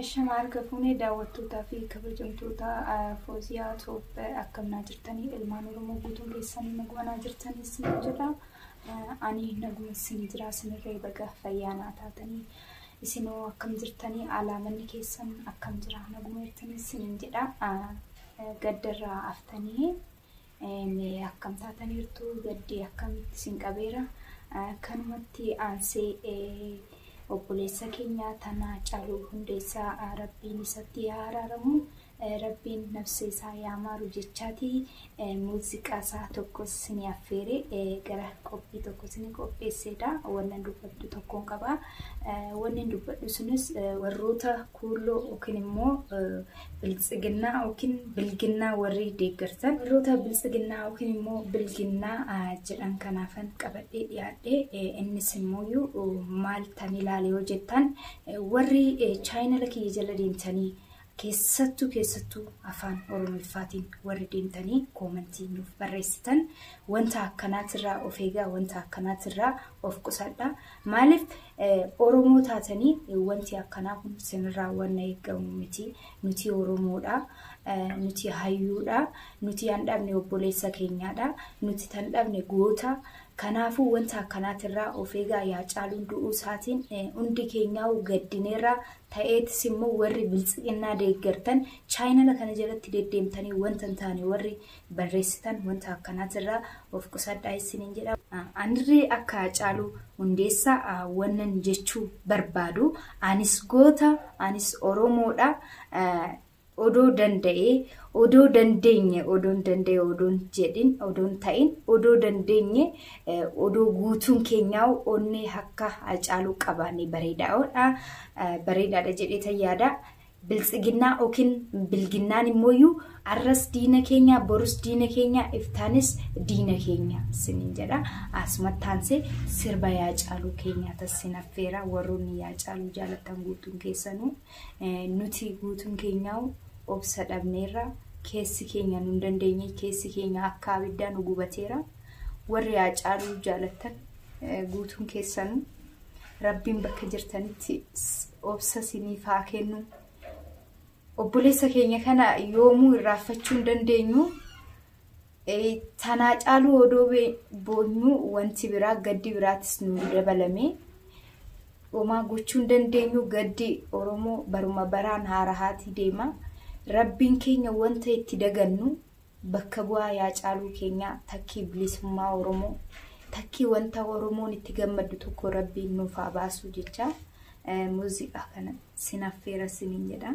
Ashama harka fuune daawwattootaa fi kabajamtoota Fooziyaa Tube akkam naa jirtanii ilmaan Oromoo guutuun keessanii naguma naa jirtanii isin jedha. Ani naguma isin jira isinirree baga fayyaa naa taatanii isinoo akkam jirtanii alaamanni keessan akkam jira naguma jirtanii isin jedha. Gaddarraa aftanii Mee akkam taataniirtu? Gaddi akkamitti isin qabeera? Kanumatti aansee obboleessa keenya Tanaa Caaluu Hundeessaa Rabbiin isatti haa araaramu, Rabbiin nafsee isaa yaa maaru jechaati muuziqaa isaa tokko isinii affeere gara qophii tokko isinii qopheesseedha. Wannan dubbadhu tokkoon qaba. Wannin dubbadhu sunis warroota Kuulloo yookiin immoo biltsiginnaa yookiin bilginnaa warri deeggartan warroota biltsiginnaa yookiin immoo bilginnaa jedhan kanaafan qabadhee dhiyaadhe innis immoo maal tan ilaale yoo jettan warri chaayinala kiyya jala deemtanii keessattuu keessattuu afaan oromiffaatiin warri deemtanii koomantii nuuf barreessitan wanta akkanaatirraa of eegaa wanta akkanaatirraa of qusadha Maaliif Oromoo taatanii wanti akkanaa kun sinirraa wanna eegamu miti. Nuti Oromoodha. Nuti hayyuudha. Nuti an dhabne obboleessa keenyaadha. Nuti tan dhabne goota. Kanaafuu wanta akkanaatirraa of eegaa yaa caaluun du'uu isaatiin hundi keenyaa gaddineerraa ta'eetis immoo warri biltsiginnaa deeggartan chaayinala kana jalatti deddeemtanii wanta hin taane warri barreessitan wanta akkanaatirraa of qusadhaa isiniin jedha. Anirree akka Haacaaluu Hundeessaa wannan jechuu barbaadu anis goota, anis Oromoodha. Odoo danda'ee, odoo dandeenye, odoon danda'e odoon jedhin, odoon ta'in, odoo dandeenye, odoo guutuun keenyaa'u onnee akka Haacaaluu qabaanne bareedaadha. Bareedaadha jedheetan yaada. Biltsiginnaa ykn bilginnaan immooyyuu arras diina keenya borus diina keenya iftaanis diina keenya sinin jedha asumatti aansee sirba yaa caaluu keenyaa tassin affeera warroonni yaa caaluu jaalattan guutuun keessanuu nuti guutuun keenyaa'u obsa dhabneerra keessi keenya nun dandeenye keessi keenya akka abiddaa nu gubateera warri yaa caaluu jaalattan guutuun keessanuu rabbiin bakka jirtanitti obsa siniif haa kennu. Obboleessa keenya kana yoomuu irraanfachuu hin dandeenyu. Tanaa caaluu odoo boonyuu wanti biraa gaddi biraatis nu dabalame. Homaa gochuu hin dandeenyu gaddi Oromoo baruma baraan haarahaatii deema. Rabbiin keenya wanta itti dagannu Bakka bu'aa yaa caaluu keenyaa takkii bilisummaa oromoo takkii wanta oromoon itti gammaddu tokko rabbiin nuuf haa baasuu jechaa muuziqaa kana sin affeera sinin jedha.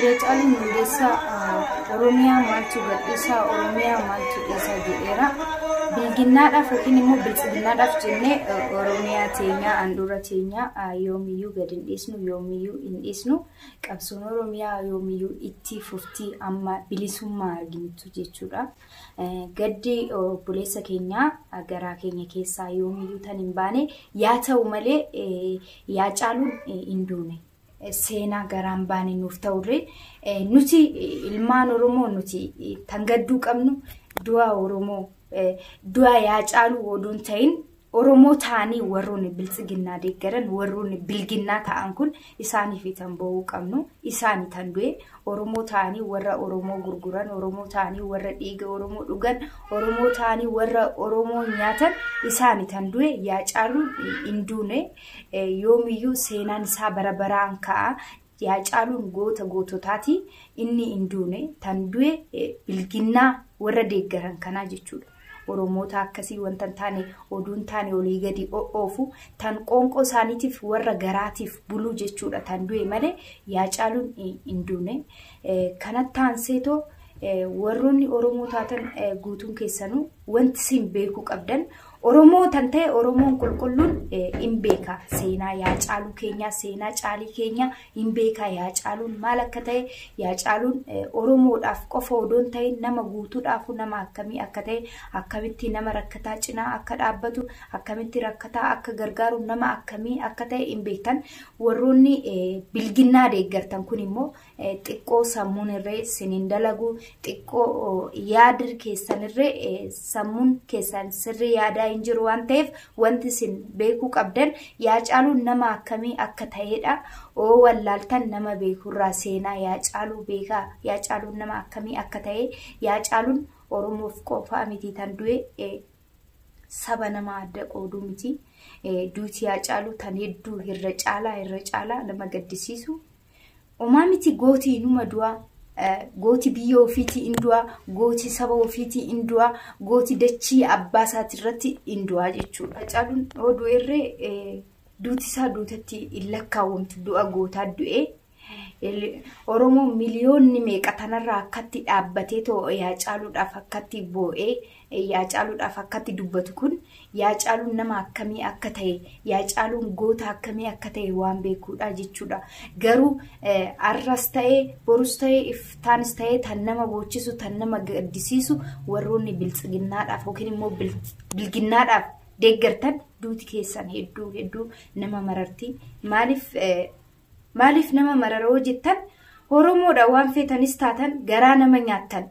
Haacaaluun Hundeessaa Oromiyaa maaltu gadhiisaa Oromiyaa maaltu dhiisaa jedheera. Bilginnaadhaaf yookiin immoo biltsiginnaadhaaf jennee Oromiyaa teenyaa handhuura teenyaa yoomiyyuu gad hin dhiisnu yoomiyyuu hin dhiisnu qabsoon Oromiyaa yoomiyyuu itti fuftii amma bilisummaa arginutti jechuudha. Gaddi obboleessa keenyaa garaa keenya keessaa yoomiyyuu tan hin baane yaa ta'u malee yaa caaluun hin duune. Seenaa garaan baane nuuf ta'urree nuti ilmaan Oromoo nuti tan gadduu qabnu du'a Oromoo du'a yaa caaluu odoo hin ta'in Oromoo ta'anii warroonni biltsiginnaa deeggaran warroonni bilginnaa ta'an kun isaaniifi tan boo'uu qabnu isaani tan du'e Oromoo ta'anii warra Oromoo gurguran Oromoo ta'anii warra dhiiga Oromoo dhugan Oromoo ta'anii warra Oromoo nyaatan isaani tan du'e yaa caaluun hin duune yoomiyyuu seenaan isaa bara baraan ka'a Haacaaluun goota goototaati. Inni hin duune. Tan du'e bilginnaa warra deeggaran kanaa jechuudha. Oromoota akkasii wanta hin taane oduu hin taane olii gadi oofu tan qoonqoo isaaniitiif warra garaatiif buluu jechuudha tan du'e malee Haacaaluun hin duune. Kanatti aanseetoo warroonni Oromoo taatan guutuun keessanuu wanti isin beekuu qabdan Oromoo tan ta'e Oromoon qulqulluun hin beeka seenaa yaa caaluu keenyaa seenaa caalii keenyaa hin beeka yaa caaluun maal akka ta'e yaa caaluun Oromoodhaaf qofa odoon ta'e nama guutuudhaaf nama akkamii akka ta'e akkamitti nama rakkataa cinaa akka dhaabbatu akkamitti rakkataa akka gargaaru nama akkamii akka ta'e hin beektan warroonni bilginnaa deeggartan kun immoo xiqqoo sammuun irree sin hin dalagu xiqqoo yaadir keessan irree sammuun keessan sirrii yaadaa hin jiru waan ta'eef wanti sin beekuu qabdan yaa caaluun nama akkamii akka ta'edha oo wallaaltan nama beekurraa seenaa yaa caaluu beekaa yaa caaluun nama akkamii akka ta'e yaa caaluun oromoof qofaa miti tan du'e saba nama adda qooduu miti duuti yaa caaluu tan hedduu irra caalaa irra caalaa nama gaddisiisu Omaa miti gooti inuma du'a. Gooti biyya ofiitii in du'a. Gooti saba ofiitii in du'a. Gooti dachii abbaa isaati irratti in du'a jechuudha. Hacaaluun yoo du'erree duuti isaa duutatti hin lakkaawwamtu du'a gootaa du'ee. Oromoo miliyoonni meeqa tanarraa akkatti dhaabbatee too Hacaaluudhaaf akkatti boo'ee Eeyyee Haacaaluudhaaf akkatti dubbatu kun Haacaaluun nama akkamii akka ta'e, Haacaaluun goota akkamii akka ta'e waan beekuudha jechuudha. Garuu har'as ta'e, borus ta'e, iftaanis ta'e tan nama boochisu, tan nama gaddisiisu warroonni biltsiginnaadhaaf yookiin immoo bilginnaadhaaf deeggartan duuti keessan hedduu hedduu nama mararti. Maaliif maaliif nama mararoo jettan Oromoodha waan feetanis taatan garaa nama nyaattan.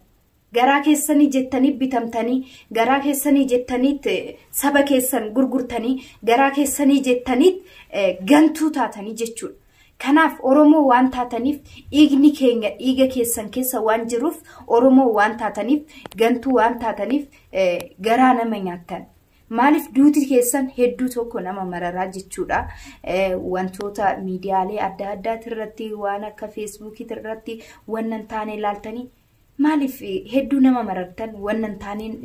Garaa keessanii jettanii bitamtanii, garaa keessanii jettaniit saba keessan gurgurtanii, garaa keessanii jettaniit gantuu taatanii jechuudha. Kanaaf Oromoo waan taataniif dhiigni keenya dhiiga keessan keessa waan jiruuf Oromoo waan taataniif gantuu waan taataniif garaa nama nyaattan. Maaliif duuti keessan hedduu tokko nama mararaa jechuudha. Wantoota miidiyaalee adda addaati irratti waan akka feesbuukiiti irratti waan hin taane ilaaltanii Maaliif hedduu nama marartan wannan taaniin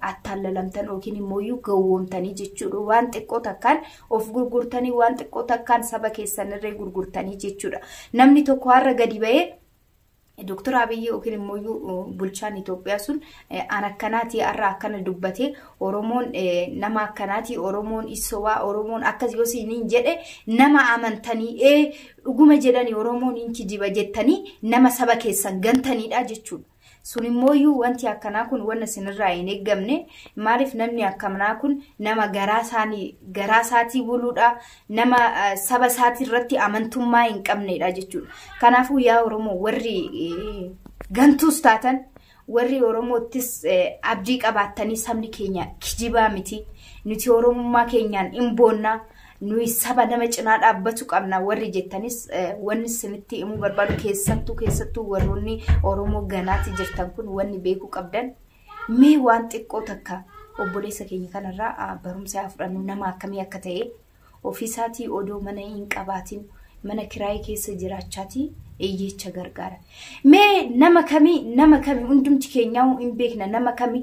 attaallalamtan yookiin immoo iyyuu gowwoomtanii jechuudha. Waan xiqqoo takkaan of gurgurtanii waan xiqqoo takkaan saba keessanirree gurgurtanii jechuudha. Namni tokko har'a gadi ba'ee Dooktar Abiyyi yookiin immoo iyyuu bulchaan Itoophiyaa sun an akkanaatii har'a akkana dubbatee Oromoon nama akkanaatii Oromoon issobaa Oromoon akkas yoo siiniin jedhe nama amantanii ee Dhuguma jedhani Oromoon hin kijiba jettanii nama saba keessan gantaniidha jechuudha. Sun immooyyuu wanti akkanaa kun wanna sinirraa hin eeggamne maaliif namni akkamnaa kun nama garaa isaanii garaa isaatii buluudha nama saba isaatii irratti amantummaa hin qabneedha jechuudha. Kanaafuu yaa Oromoo warri gantuus taatan Warri Oromoottis abdii qabaattanii sabni keenya kijibaa miti. Nuti Oromummaa keenyaan in boonna. Nuyi saba nama cinaa dhaabbatu qabna warri jettanis wanni isinitti himuu barbaadu keessattuu keessattuu warroonni Oromoo ganaatti jirtan kun wanni beekuu qabdan mee waan xiqqoo takka obboleessa keenya kanarraa barumsa haa fudhannu nama akkamii akka ta'e Ofiisaatii odoo mana hin qabaatin mana kiraayii keessa jiraachaatii hiyyeecha gargaara. Mee nama kami nama kami hundumti keenyaa'uu hin beekna nama kami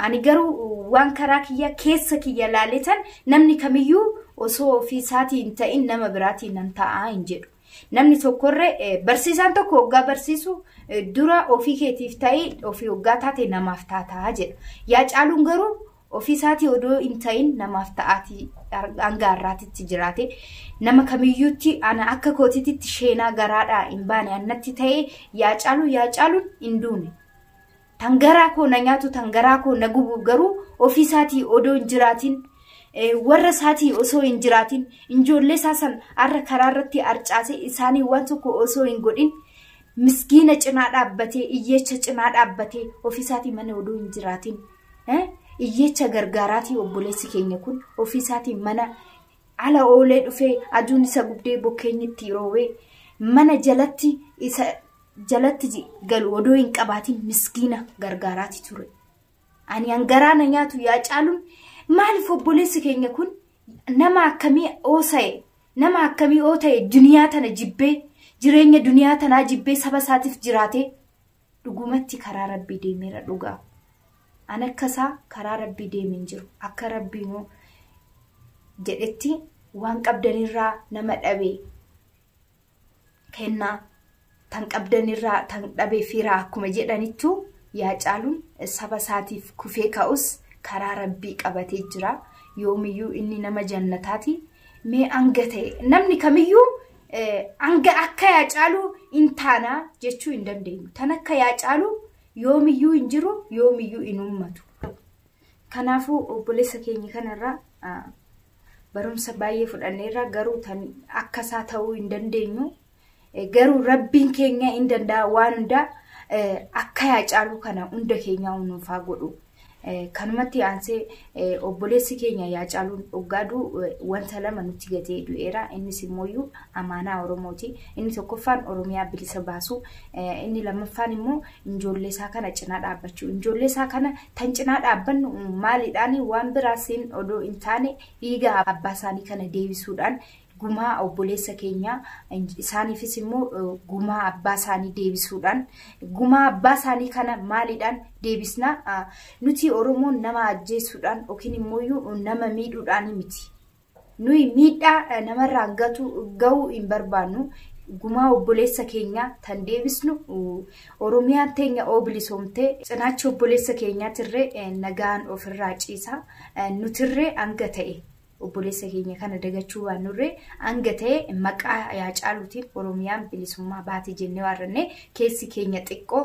ani garuu waan karaa kiyya keessa kiyya laaletan namni kamiyyuu osoo ofiisaatii hin ta'in nama biraatii nan ta'aa hin jedhu. Namni tokkorre eh, barsiisaan tokko hoggaa barsiisu eh, dura ofii keetiif ta'ii ofii hoggaa taate namaaf taataa jedha. Yaa caaluun garuu Ofii isaatii odoo hin ta'in namaaf ta'aatii hanga har'aatitti jiraate. Nama kamiyyuutti ana akka kootiititti sheenaa garaadhaa hin baane annatti ta'ee yaa caaluu yaa caaluun hin duune. Tan garaa koo na nyaatu tan garaa koo na gubu garuu ofii isaatii odoo hin jiraatin warra isaatii osoo hin jiraatin ijoollee isaa san har'a karaa irratti arcaase isaanii waan tokko osoo hin godhin miskiina cinaa dhaabbatee iyyeecha cinaa dhaabbatee ofii isaatii mana odoo hin jiraatin Iyyeecha gargaaraatii obboleessi keenya kun ofiisaatii mana ala oolee dhufee aduun isa gubdee bokkeenyi itti roobee mana jalatti isa jalatti galu odoo hin qabaatiin miskiina gargaaraatii ture. Ani hangaraa na nyaatu yaa caaluun maaliif obboleessi keenya kun nama akkamii oosa'e nama akkamii oota'e duniyaa tana jibbee jireenya duniyaa tanaa jibbee saba isaatiif jiraatee. Dhugumatti karaa Rabbii deemeera dhugaa. An akka isaa karaa Rabbii deeme hin jiru. Akka Rabbiinuu jedhetti waan qabdanirraa nama dhabe kennaa tan qabdanirraa tan dhabe firaa akkuma jedhanittu yaa caaluun saba isaatiif kufee ka'us karaa Rabbii qabatee jira. Yoomiyyuu inni nama jannataati. Mee hanga ta'e namni kamiyyuu hanga akka yaa caalu hin taana jechuu hin dandeenyu. Tan akka yaa caalu yoomiyyuu hin jiru yoomiyyuu hin uummatu. Kanaafuu obboleessa keenya kanarraa barumsa baay'ee fudhanneerra garuu tan akka isaa ta'uu hin dandeenyu. Garuu rabbiin keenya hin danda'a waan hundaa akka yaa caalu kana hunda keenyaa nuuf haa godhu. Kanumatti aansee obboleessi keenya Haacaaluun oggaa du'u wanta lama nutti gatee du'eera. Innis immooyyuu amaanaa Oromooti. Inni tokkoffaan Oromiyaa bilisa baasuu, inni lammaffaan immoo ijoollee isaa kana cinaa dhaabbachuu. Ijoollee isaa kana tan cinaa dhaabbannu maaliidhaan waan biraasiin odoo hin taane dhiiga abbaa isaanii kana deebisuudhaan gumaa obboleessa keenyaa isaaniifis immoo gumaa abbaa isaanii deebisuudhaan gumaa abbaa isaanii kana maaliidhaan deebisna nuti oromoon nama ajjeesuudhaan yookiin immoo nama miidhuudhaan miti nuyi miidhaa namarraan gatu ga'uu hin barbaannu gumaa obboleessa keenyaa tan deebisnu oromiyaan teenya oo bilisoomtee cinaacha obboleessa keenyaatirree nagaan ofirraa ciisa nutirree hanga ta'e Obboleessa keenya kana dagachuu baannurree hanga ta'e maqaa Haacaaluutiin Oromiyaan bilisummaa baate jennee waarrannee keessi keenya xiqqoo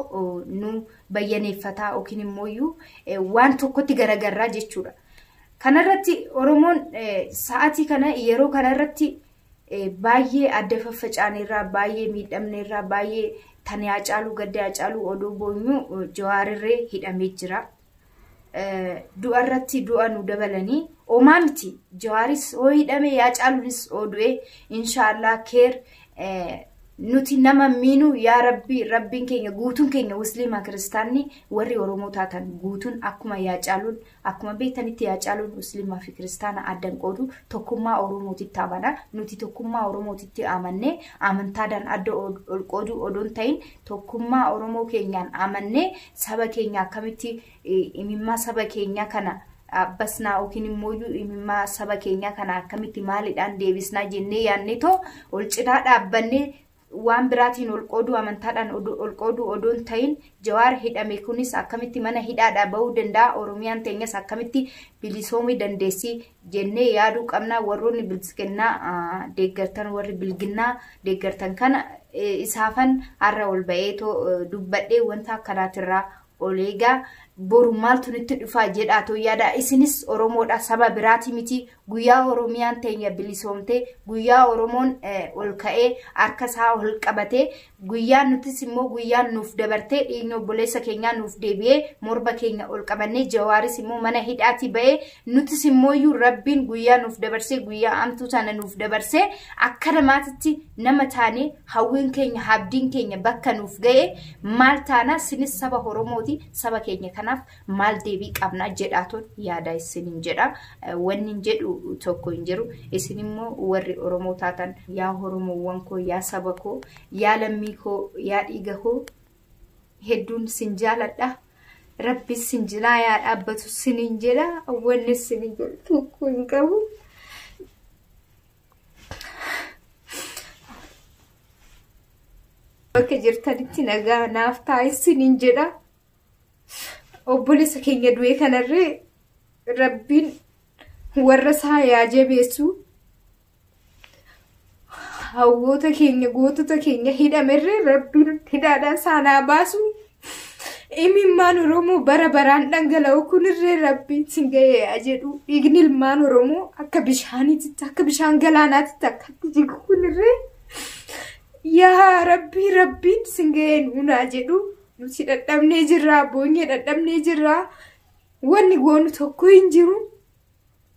nu bayyaneeffataa yookiin immoo iyyuu waan tokkotti garagarraa jechuudha. Kanarratti Oromoon sa'aatii kana yeroo kanarratti baay'ee adda faffacaaneerraa baay'ee miidhamneerraa baay'ee tan Haacaaluu gadda Haacaaluu odoo boonyuu jawaarirree hidhamee jira. du'a irratti du'a nu dabalanii omaa miti jawaaris hoo hidhame yaa caalunis hoo du'e inshaallah keer nuti nama miinu yaa rabbi rabbiin keenya guutuun keenya musliima kiristaanni warri oromoo taatan guutuun akkuma yaa caaluun akkuma beektanitti yaa caaluun musliimaa fi kiristaana addan qoodu tokkummaa oromootitti amana nuti tokkummaa oromootitti amannee amantaadhaan adda ol qooduu odoon ta'in Tokkummaa Oromoo keenyaan amannee saba keenya akkamitti imimmaa saba keenyaa kana abbasnaa yookiin immoo imimmaa saba keenyaa kana akkamitti maalidhaan deebisnaa jennee yaadne too ol cinaa dhaabbannee waan biraatiin ol qooduu amantaadhaan ol qooduu odoon ta'in jawaar hidhame kunis akkamitti mana hidhaadhaa ba'uu danda'a oromiyaan teenyas akkamitti bilisoomii dandeessii jennee yaaduu qabna warroonni biltsiginnaa deeggartan warri bilginnaa deeggartan kana isaafan har'a ol ba'eetoo dubbadhee wanta akkanaatirraa ol eegaa boru maaltu nutti dhufaa jedhaa too yaada isinis oromoodha saba biraatii miti guyyaa oromiyaan teenya bilisoomtee guyyaa oromoon ol ka'ee harka isaa ol qabatee Guyyaan nutis immoo guyyaan nuuf dabartee dhiigni obboleessa keenyaa nuuf deebi'ee morba keenya ol qabannee jawaaris immoo mana hidhaatii ba'ee nutis immoo iyyuu rabbiin guyyaa nuuf dabarsee guyyaa amtuu tana nuuf dabarsee akka namaatitti nama taane hawwiin keenya habdiin keenya bakka nuuf ga'e maal taana sinis saba Oromooti saba keenya kanaaf maal deebii qabna jedhaatoon yaada isinin jedha wannin jedhu tokko hin jiru isin immoo warri oromoo taatan yaa oromoowwan koo yaa saba koo yaa lammii koo yaa dhiiga koo hedduun sin jaaladha rabbi sin jinaa yaa dhaabbatu sinin jedha wanni sinin jedhu tokko hin qabu. Bakka jirtanitti nagaa naaf taa'e sinin jedha. obboleessa keenya du'ee kanarree rabbiin warra isaa yaa jabeessu hawwoota keenya gootota keenya hidhamerree rabbiin hidhaadhaan saanaa baasu imimmaan oromoo bara baraan dhangala'u kunirree rabbiin sin ga'ee yaa jedhu dhiigni ilmaan oromoo akka bishaaniititti akka bishaan galaanaatitti akkatti jigu kunirree yaa rabbii rabbiin sin ga'ee nuunaa jedhu Nuti dhadhabnee jirra, boonyee dhadhabnee jirra. Wanni goonu tokko hin jiru.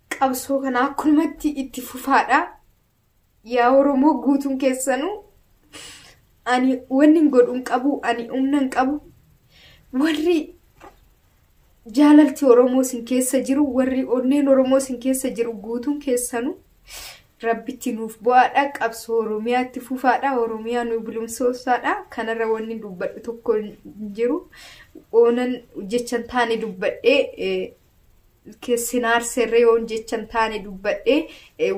Qabsoo kana akkumatti itti fufaadha. Yaa Oromoo guutuun keessanuu ani wanni hin godhu hin qabu, ani humna hin qabu. Warri jaalalti Oromoo isin keessa jiru, warri onneen Oromoo isin keessa jiru guutuun keessanuu Rabbitti nuuf bo'aadha qabsoo Oromiyaatti fufaadha Oromiyaa nu bilumsoosaadha kanarra wanni dubbadhu tokko hin jiru oonan jechan taane dubbadhee sinaarserre yoon jechan taane dubbadhe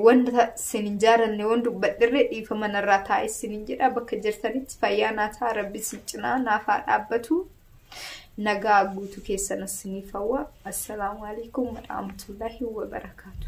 wanta sin hin jaalanne waan dubbadherre dhiifa manarraa taa'e sin hin jedha bakka jirtanitti fayyaa naa ta'a rabbi sin cinaa naaf haa dhaabbatu nagaa guutuu keessanas siniif hawwa assalaamu alaikum warahmatullaahi wabarakaatu.